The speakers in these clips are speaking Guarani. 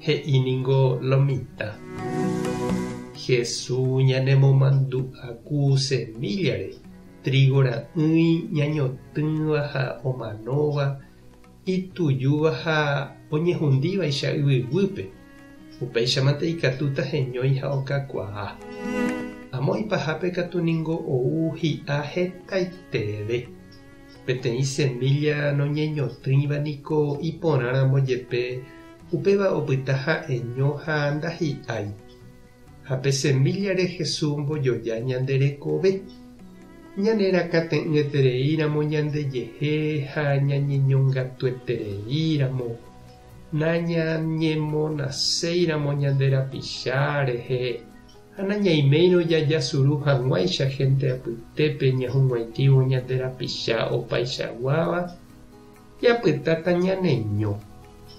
He'i ningo lo mitã. Hesu ñanemomandu'aku semíllare, trígo ra'ỹi ñañotỹva ha omanóva, itujúva ha oñehundívaicha yvyguýpe, upéichamante ikatúta heñói ha okakuaa. Amo ipahápe katu ningo ou hi'a hetaitereve. Peteĩ semílla noñeñotỹiva niko iporãramo jepe Upéva opyta ha'eño ha ndahi'ái. Ha pe semíllare Jesús ombojoja ñande rekove. Ñanerakãte'ỹetereíramo ñandejehe ha ñañeñongatuetereíramo, nañañemonaséiramo ñande rapicha rehe ha nañaiméirõ jajasuru hag̃uáicha hénte apytépe ñahug̃uaitĩvo ñande rapicha opaichaguáva, Japytáta ñaneño,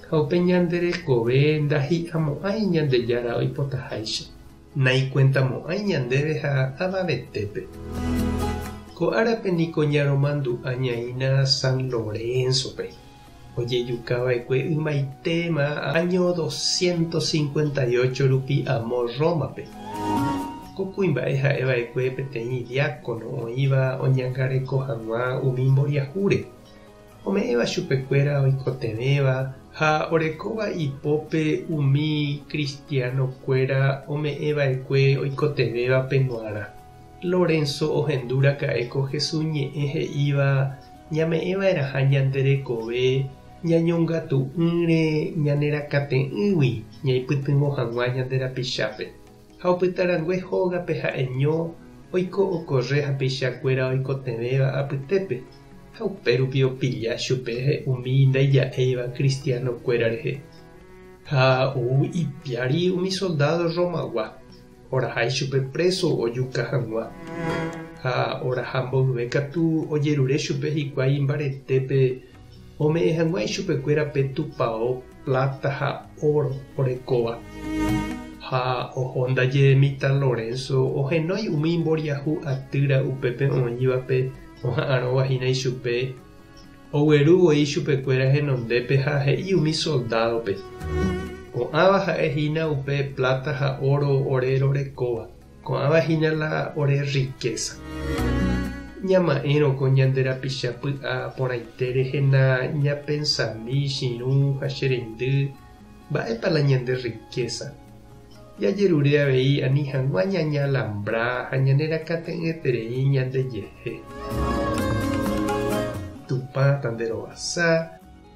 ha upe ñande rekove ndahi'amo'ãi Ñandejára oipotaháicha. Naikuentamo'ãi ñandéve ha avavetépe. Ko árape niko ñaromandu'a ñaína San Lorénzope, ojejukava'ekue ymaitéma áño doscientos cincuenta y ocho rupi amo Rómape. Ko kuimba'e ha'eva'ekue peteĩ diákono oĩva oñangareko hag̃ua umi mboriahúre. Ome'ẽva chupekuéra oikotevẽva ha orekóva ipópe umi kristianokuéra ome'ẽva'ekue oikotevẽvape g̃uarã. Lorenzo ohendu raka'e ko Jesús ñe'ẽ he'íva ñame'ẽva'erãha ñande rekove ñañongatu'ỹre ñanerakate'ỹgui ñaipytyvõ hag̃ua ñande rapichápe. Ha opyta rangue hógape ha'eño oiko okorre ha peicha kuéra oikotevẽva apytépe, ha upérupi opilla chupe umi ndaija'éiva kristiáno kuéra rehe. Ha ou ipiári umi soldádo Rromagua, oraha ichupe préso ojuka hag̃ua. Ha oraha mboyve katu ojerure chupe hikuái imbaretépe Ome'ẽ hag̃ua ichupekuéra pe tupao pláta ha óro orekóva. Ha oho ndaje mitã Lorenzo ohenói umi imboriahu atýra upépe oĩvape oha'arõva hína ichupe, ogueru voi ichupekuéra henondépe ha he'i umi soldádope, Ko'ãva ha'e hína upe pláta ha óro ore rorekóva. Ko'ãva hína la ore rrikésa. Ñama'ẽrõ ko ñande rapicha py'a porãite rehena ñapensami chirũ ha che reindy, mba'épa la ñande rrikésa. Jajerure avei ani hag̃ua ñañalambrá ha ñanerakate'ỹeterei ñandejehe. Tupã tanderovasa.